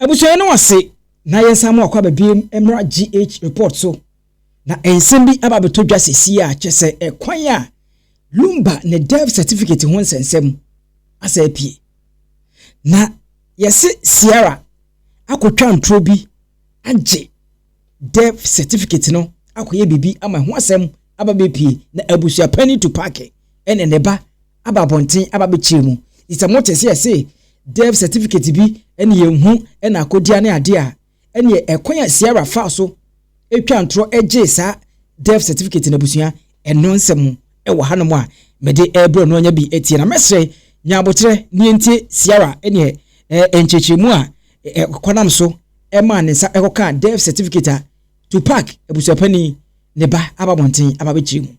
Abusua no ase na yɛnsan mo akɔ aba biom mmra GH report so na nsɛm bi aba abɛtɔ dwa sesie a kyɛ sɛ ɛkwan a Lumba ne death certificate ho nsɛnsɛm asa apue. Na yɛse Sierra akɔtwa nturo bi agye death certificate no akɔyɛ biribi ama ho asɛm aba bɛpie na abusua panyin tu paake ɛne ne ba aba abɔnten aba bɛkyerɛ mu. Nti sɛ mote sɛ yɛse death certificate bi ɛne yɛnhu ɛna akodia ne adeɛ a, ɛneɛ ɛkwan a Ciara faa so twaa ntorɔ gyee saa death certificate no abusua ɛno nsɛm ɛwɔ hanom a mede ɛrebrɛ no anya bi atie na mɛsrɛ nya aboterɛ ne yɛntie Ciara ɛneɛ nkyerɛkyerɛmu a ɛkwanam so maa ne nsa kɔkaa death certificate a Tupac abusuapanin ne ba aba abɔnten aba abɛkyerɛ mu.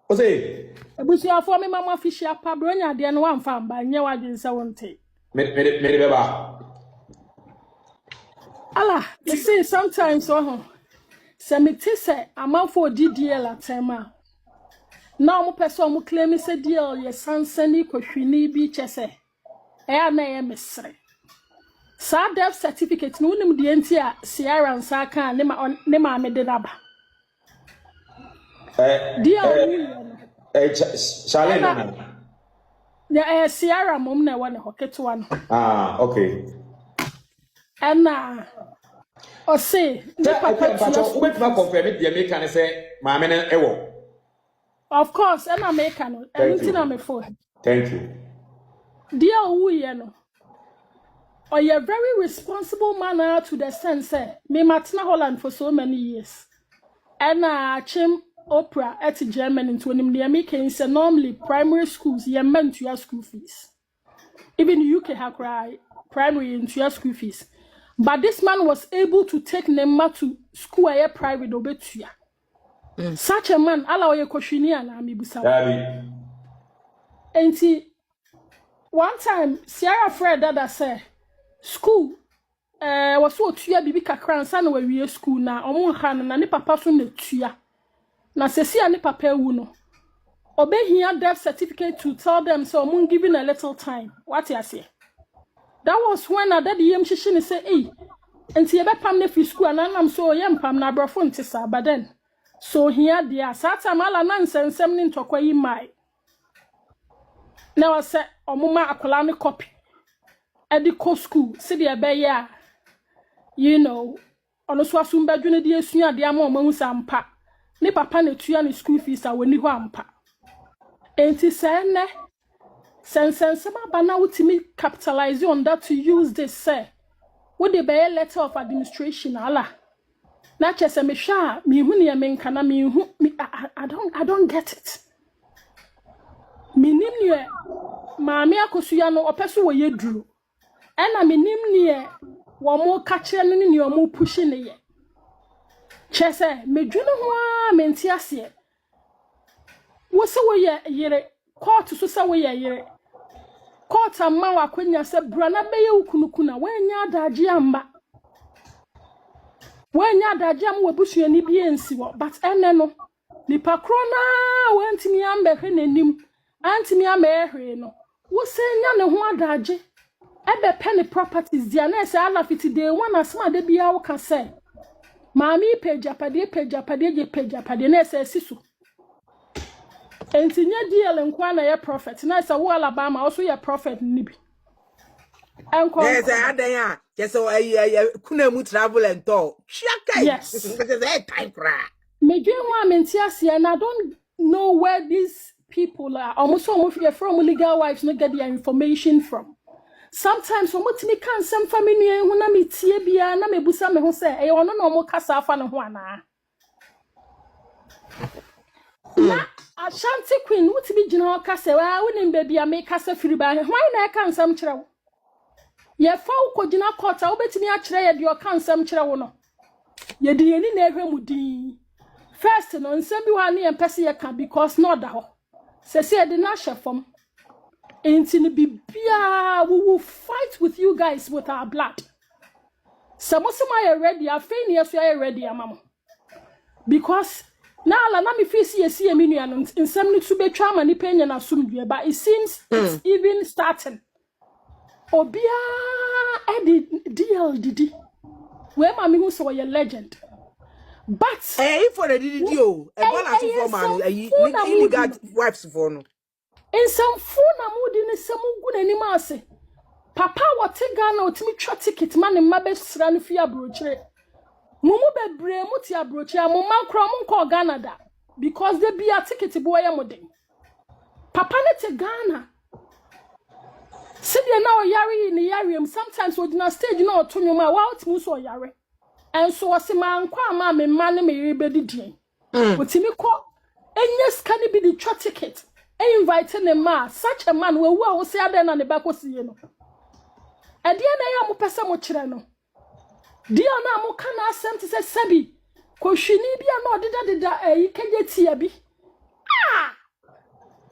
Ose. Abusuafoɔ mema mo afihyia pa, berɛ ɔnya adeɛ no woamfa amba, nyɛ w'adwene sɛ wonte. Me, me de, me de bɛba. Ala, me se sometimes wahu, sɛ me te sɛ amanfoɔ ɔdi DL atɛm a, na ɔmo pɛ sɛ ɔmo claim sɛ DL yɛ sansani kɔhwini bi kyɛ sɛ. Ɛyɛ a na ɛyɛ me sere. Saa death certificate no, wonim deɛ nti a Ciara nsa aka a ne ma ɔn- ne maame de no aba. Ɛ Deɛ a ɛ ɔwuiɛ no, ɛ Ch- Ch- Charlene ɛna nana. na ɛyɛ Ciara mmom na ɛwɔ ne hɔ, ketewa no. Ah, okay. Ɛna ɔse Sɛ ne ɛdeɛ papa tua mpakyɛ school wobɛtumi fees. akɔnfɛme deɛ meka ne sɛ maame no ɛwɔ. of course ɛna meka no ɛno nti na mefo thank you deɛ ɔwuiɛ no ɔyɛ very responsible man ah, to the extent sɛ mematena holland for so many years ɛna akyem opera ɛte germany nti onim deɛ meka yi sɛ normally primary schools yɛmma ntua school fees Even UK ha koraa primary yɛ ntua school fees but this man was able to take ne mma to school a ɛyɛ private na ɔbɛtua. Mm. Such a man ala ɔyɛ kɔhwini anaa mebusa wo. Enti one time Sierra frɛ dada sɛ school Ɛwɔ sɛ ɔtua biribi kakra ansa na wawie sukuu. Ná wɔnha no, na ne papa nso na ɛtua. Na seesei a ne papa awu no, ɔbɛhia death certificate to tell them sɛ wɔn given a little time. Woate aseɛ? That was when na daddy yam hyehye no sɛ, ei, nti yɛbɛpam no afiri sukuu anaa? Nam sɛ, oh, yɛmpam no, aborɔfo nte saa. But then, sɛ ɔhia deɛ a. Saa time, Allah, na nsɛnsɛm ne ntɔkwa yi mmae. na wɔ sɛ ɔmo ma akwadaa no kɔpi ɛde kɔ sukuu sɛdeɛ ɛbɛyɛ a you know ɔno so asom bɛdwo no de asua adeɛ ama ɔmo ahu sɛ ampa ne papa na etua ne sukuu fees a wɔni hɔ ampa enti sɛ ɛnɛ sɛ nsɛnsɛm aba na wotumi capitalize on that to use this sɛ wode bɛyɛ letter of administration ala Na kyerɛ sɛ mehwɛ a menhu neɛ menka na menhu me I, I, I don't I don't get it. Menim neɛ maame akosuya no ɔpɛ so wɔyɛ duro. Ɛna menim neɛ wɔn ka kyerɛ no ne neɛ wɔn pushi ne yɛ. Kyerɛ sɛ medwene ho ara mente aseɛ. Wo se woyɛ yere, court so sɛ woyɛ yere. Court amma wo akwanya sɛ bra na bɛyɛ wo kunu kuna. Woannya adagye amma. Woannya adagye amma w'abusuani bi ansi hɔ. But ɛnɛ no, nipa korɔ no ara a wantumi ambɛhwɛ n'anim Antumi amma yɛ hwee no, wosan nya ne ho adagye bɛpɛ ne properties di a na ɛsɛ Allah fiti day one asɛm a da biara woka sɛ maame yi pɛ agyapadeɛ pɛ agyapadeɛ gye pɛ agyapadeɛ na ɛsɛ asi so. Enti nyɛ DL nkoa na yɛ prophet na ɛsɛ wo Alabama wo so yɛ prophet no bi. Ɛnkɔ Yes, nkɔ. adan a kyɛ sɛ ayi ayi kuna mu travel and talk. Twa kai. Yes. Kyɛ sɛ ɛyɛ time koraa. Medwen ho a mente aseɛ and I don't No where these people are ɔmo so ɔmo yɛfrɛ ɔmo legal wives no get their information from sometimes ɔmo tumi ka nsɛm fa me nua yi ho na me tie biara na me busa me ho sɛ ɛyɛ ɔno na ɔmo kasa afa ne ho anaa na ashanti queen wotumi gyina hɔ kasa waa wonim baabi a mekasa firi baa he hwan na ɛka nsɛm kyerɛ wo yɛfa wo kɔgyina court a wobɛtumi akyerɛ yɛ deɛ ɔka nsɛm kyerɛ wo no yɛde yɛn ani na ɛhwɛ mu din first no nsɛm bi hɔ a ne yɛn pɛ sɛ yɛka because na ɔda hɔ sɛ sɛ yɛde no ahyɛ fam nti no biribiara we will fight with you guys with our blood sɛ mo sɛ mo ayɛ ready afei ne yɛso ayɛ ready ama mo because na ala na mefiri si yɛsi yɛ me nuanom nsɛm no so bɛtwa ama nipa anya no asomdwoe but it seems it's even starting Obiara de DL didi. Wei ma mehu sɛ ɔyɛ legend. But ɛyɛ ifo na didi di o. Ɛbɔ na sofo ma no ayi illegal wives fo no. Nsɛmfo na mo di ne sɛ mo gu n'anim ase. Papa wɔte Ghana otimi twa ticket ma ne mma bɛsra no fi abrokyire. Mo mu bebree mo te abrokyire a mo mma koraa mo nkɔɔ Ghana da because da bia ticket boɔ yɛ mo den. Papa ne te Ghana Sɛdeɛ na ɔyare yi ne yareɛ mu sometimes ɔgyina stage na ɔto nnwom a wout mu sɛ ɔyare ɛnso ɔse mankɔ ama a me mma ne me yere bɛdi deɛn ɔtumi kɔ ɛnyɛ sika no bi de twa ticket ɛ invite ne mma a such a man wawu a wo sɛ adɛn na ne ba kɔsiiɛ no ɛdeɛ na ɛyɛ a mopɛ sɛ mokyerɛ no Dean a moka n'asɛm te sɛ sɛbi kohwini bi a na ɔdedadeda ayi kɛgye tia bi a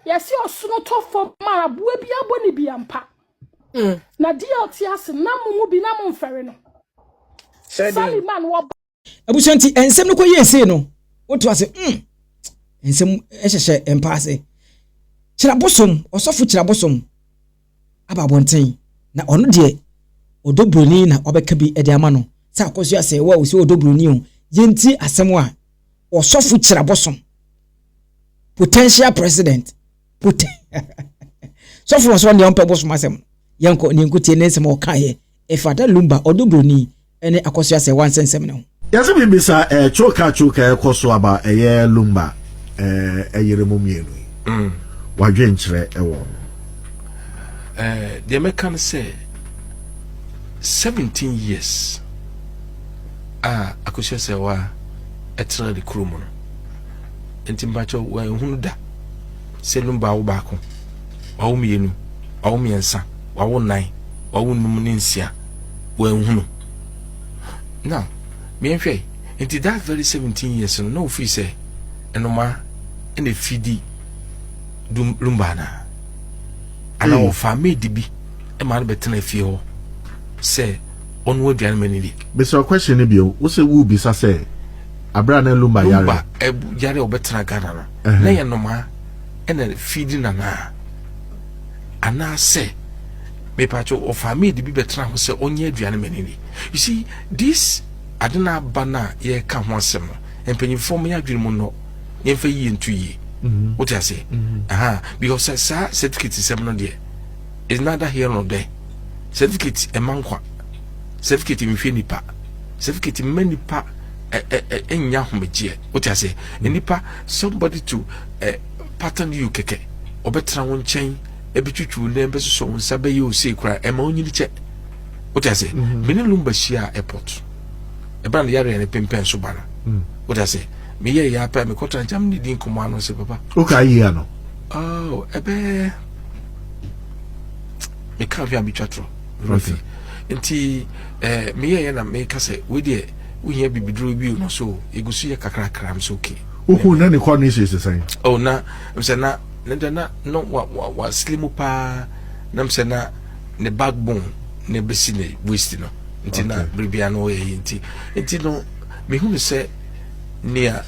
yɛsi ɔsono tɔ fam a aboa bi abɔ ne bi ampa mm. na deɛ ɔte ase nam mo mu bi na mo mfɛre no saliman wɔba abusua nti nsɛm no kɔ yie sei no woto ase mm nsɛm hyehyɛ mpa ase kyerɛbosom ɔsɔfo kyerɛbosom aba abɔnten na ɔno deɛ ɔdɔ buroni na ɔbɛka bi de ama no sɛ akɔsua sɛ wo a wosɛ ɔdɔ buroni o yɛnti asɛm a ɔsɔfo kyerɛbosom potential president poten sɔfo wɔ sɛ ɔne ɔmpɛ bosom asɛm yɛnkɔ ne nkotie ne nsɛm a ɔkaeɛ ɛfa da Lumba, ɔdo buroni, ne Akosua Serwaa nsɛnsɛm no ho. Yɛse mebisa eh coca coca ɛkɔ so aba ɛyɛ lumba eh ɛyere mo mmienu yi mm. wadwenkyerɛ ɛwɔ no eh deɛ mɛka no sɛ 17 years a akosua sɛ wa ɛtena ne kuro mu no nti mpakyɛ wɔahunu da sɛ lumba awo baako awo mmienu awo mmiɛnsa wawo nnan, wawo nnum ne nsia, wanhunu. Now, miɛnhwɛ, nti that very 17 years no, na ofii sɛ nnomaa na efi di dum rumba ana? Ana hmm. ɔfa maid bi ma no bɛtena fie hɔ sɛ ɔno aduane ma no di? Bisa question no bio, wo sɛ wo bisa sɛ abira na lumba yare. Lumba eh, yare ɔbɛtena Ghana no. Na yɛ nnomaa ɛna fi di nanaa. anaasɛ mepatwo ɔfaa maid bi bɛtena ho sɛ ɔnyɛ aduane ma nini you see this ade no aba no a yɛka ho asɛm no mpanyimfoɔ ma yɛadwene mu nnɔ yɛmfa yie nto yie mhm. wote aseɛ mhm. because saa certificate sɛm no deɛ is neither here nor there certificate ɛma nkwa certificate nhwɛ nipa certificate mma nipa ɛnya ahomegyeɛ wote aseɛ nipa somebody to Pata no yiw kɛkɛ. Ɔbɛtena wo nkyɛn, ɛbɛtwitwi wo nan, bɛsosɔ wo nsa, bɛyɛ wo sei koraa. Ɛma wonyini kyɛ. Wote ase? Mhm. Me ne Lumba hyiaa airport. Ɛberɛ a ne yareɛ no pempɛn so ba no. Mm. Wote ase? Meyɛɛ yɛ apɛ a mekɔtra nkyɛn ne di nkɔmmɔ ano sɛ papa. Wokaa yie ano? Oh, ɛbɛɛ meka hwɛ a metwa torɔ. Okay. Nti eh, meyɛɛ yɛ na meka sɛ wei deɛ wohia bibiduro bio no so ɛgu so yɛ kakrakra m so okay. Wohu na ne kɔn ne hyɛ sɛ sɛn? Oh na msɛ na ne dɛ na no wa wa wa slim mu paa na msɛ na ne backbone na ebesi ne waist no nti na biribia no ɔyɛ yi nti nti no mehunu sɛ nea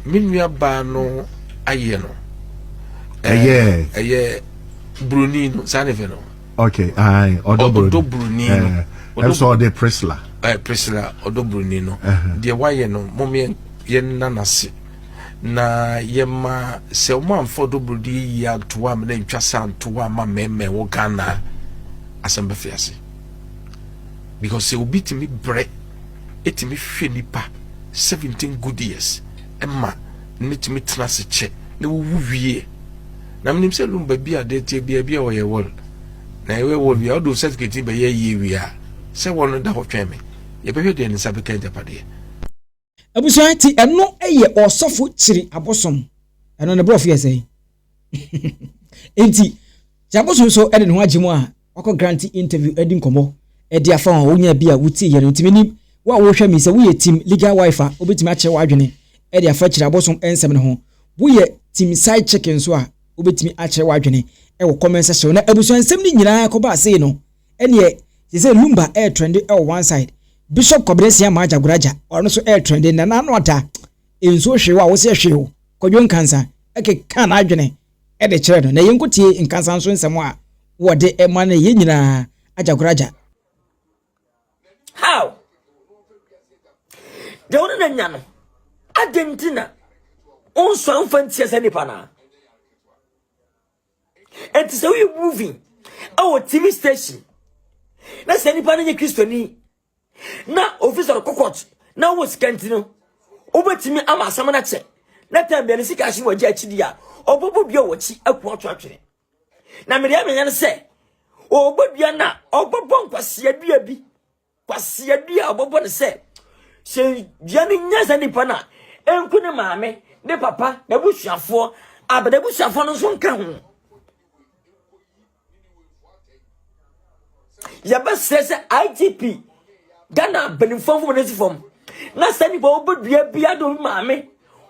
me nua baa no ayɛ no ɛyɛ ɛyɛ buroni no saa ne fɛ no Okay, aye, Odobruni. Odobruni. Eh, I'm so the Priscilla. Eh, Priscilla, Odobruni no. Uh-huh. The why you know, mom yen yen nanasi. Na yema se omo amfo Odobruni ya tuwa mene ntwasa tuwa ma meme wo Ghana. Asembe fiasi. Because se obi timi bre, etimi hwe nipa 17 good years. Emma, ne timi tena se che, ne wuwu wie. Na menim sɛ dum baabi a deɛ tie bia bi a wɔyɛ wɔl na yɛwɛ wɔl wie a ɔde certificate yi bɛyɛ yie wie a sɛ wɔl no da hɔ twɛn me yɛbɛhwɛ deɛ ne nsa bɛka agyapadeɛ. Abusua ti ɛno yɛ ɔsɔfo kyiri abosom ɛno ne borɔfo yɛ sɛn nti kyiri abosom so ɛde ne ho agye mu a Wakɔ Grantee interview adi nkɔmmɔ de afa wɔn a wonyaa bi a wotie yɛ no. Enti minim wo a worehwɛ me sɛ woyɛ team legal wife a wobetumi akyerɛ w'adwene de afa akyiri abosom nsɛm no ho. Woyɛ team side chick nso a wobetumi akyerɛ w'adwene wɔ comment section hɔ. Na abusua nsɛm no nyinaa kɔbaa sei no, ɛneɛ sesei Lumba ɛretrende wɔ one side, Bishop Kwabena Asia Amaa Jagoraja ɔno nso ɛretrende, Nana Ano Adah nsuo hwee wo a wose ɛhwee wo, Kwadwo Nkansah ɛkekaa n'adwene de kyerɛ no, na yɛnkɔtie nkasanso nsɛm a wɔde ma no yɛn nyinaa agyakoragya. How? Deɛ wode na nya no, adɛn nti na wonsɔ mfa ntia sɛ nipa no a? Ɛnti sɛ woyɛ movie ɛwɔ TV station na sɛ nipa no nyɛ Kristoni na ofi sɔrɔ kɔkɔt na wo sika nti no wobɛtumi ama asɛm no kyɛ na tam bia ne sika ahye wɔ agya akyidi a ɔbɔbɔ dua wɔ akyi aku ato atwene na medeɛ menyɛ no sɛ ɔbɔ dua no a ɔbɔbɔ nkwaseadua bi kwaseadua a ɔbɔbɔ no sɛ sɛ dua no nya sɛ nipa no a ɛnku ne maame ne papa n'abusuafoɔ abɛda abusuafoɔ no nso nka ho yɛbɛsrɛ sɛ igp ghana mpanimfoɔ mfom no si fam na sɛ nnipa wɔbɛdua bia de obi maame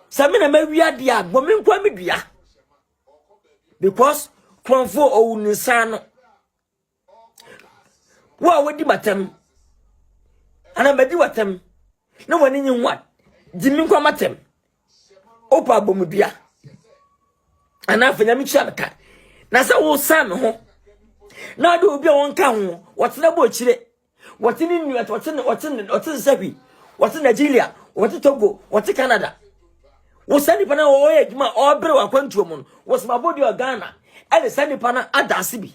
sɛ me na mawia deɛ a bɔ me nkoa me dua because kurɔmfoɔ ɔwu ne nsa no wo a wadi matam anaa madi watam na w'ani nye ho a gye me nkoa matam wopɛ abɔmudua anaa afei nyame kyia me ka na sɛ wosan me ho na ɔde obi a wɔnka ho wɔtena bɔ akyire wɔte ne nua wɔte ne wɔte ne wɔte nsɛhwi wɔte nigeria wɔte togo wɔte canada wosan nipa na wɔyɛ adwuma ɔbere wɔ akwantuo mu no wɔsɛm abɔde wɔ ghana ɛde saa nipa no ada ase bi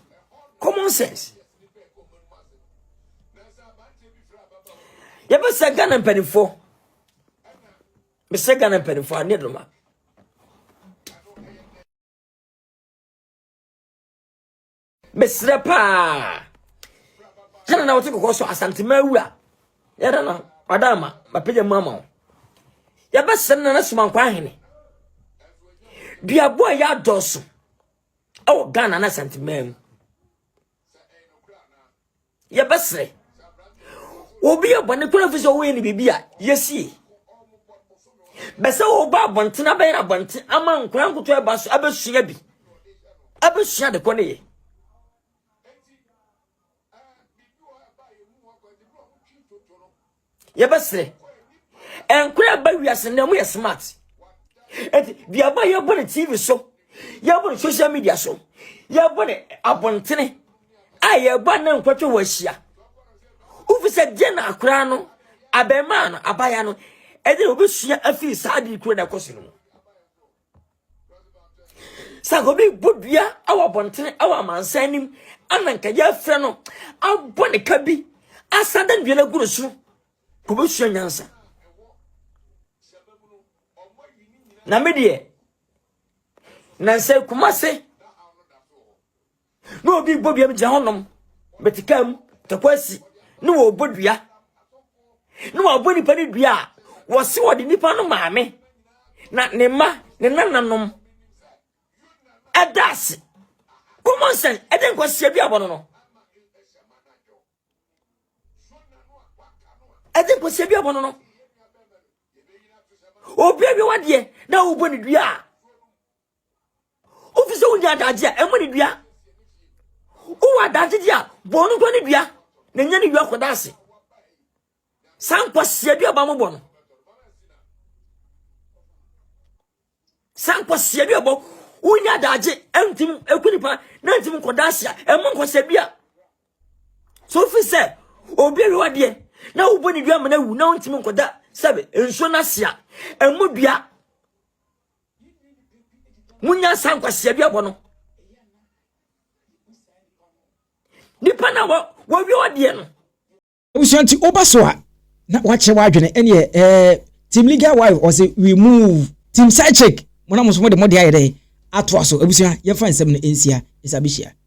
common sense yɛbɛsɛ ghana mpanimfoɔ mesɛ ghana mpanimfoɔ a ne noma mesrɛ paa sɛne na wote kɔkɔ so asantema awu a yɛda no wada ama mapagya mu ama wo yɛbɛsɛne na no somankɔ ahene duaboɔ a yɛadɔɔso ɛwɔ ghana no asantema mu yɛbɛsrɛ obi yɛ bɔne kora fi sɛ ɔwɔ yɛ ne biribi a yɛsie bɛsɛ wɔba abɔnten abɛyɛ no abɔnten ama nkora nkoto ɛba so abɛsua bi abɛsua de kɔ ne yɛ yɛbɛsrɛ nkora a ɛba wiase nnɛ mu yɛ smart ɛti deɛ ba yɛbɔ ne tv so yɛbɔ ne social media so yɛbɔ ne abɔntene a yɛba na nkwatwe wɔ ahyia wofi sɛ deɛ na akora no abɛmaa no abaya no ɛde na wobɛsua afiri saa de kuro no ɛkɔ so no mu sɛ nka obi bɔ dua wɔ abɔntene wɔ amansan anim ana nka yɛafrɛ no abɔ ne ka bi asan da dua no agu ne so kɔbɛsua nyansa na me deɛ nansɛ kuma se na obi bɔ dua mu gyina hɔnom bɛte kaa mu tɛkɔ asi na wɔbɔ dua na wɔabɔ nipa no dua a wɔse wɔde nipa no maame na ne mma ne nananom ɛda ase common sense ɛde nkwasia bi abɔ no no ɛde nkwasia bi abɔ no no obi awi wadeɛ na wobɔ ne dua a wofi sɛ wonya adagye a ɛma ne dua wowɔ adagye di a bɔɔ no nkɔ ne dua na nya ne dua kɔda ase saa nkwasia dua ba mobɔ no saa nkwasia dua bɔ wonya adagye ɛntim ɛku nipa na ntim nkɔda ase a ɛma nkwasia dua so wofi sɛ obi awiwa deɛ na wobɔ ne dua ma no awu na wontimi nkɔda sɛbe nsuo no ase a ɛmu dua monya nsa nkwaseɛ bi abɔ no nipa na wɔwie ɔdeɛ no abusua nti woba so a na wakyɛ w'adwene ɛneɛ ɛɛ team legal wife ɔse we move team side chick mo na mo so mo de mo de ayɛ dɛ atoa so abusua yɛmfa nsɛm no nsia nsa bɛhyia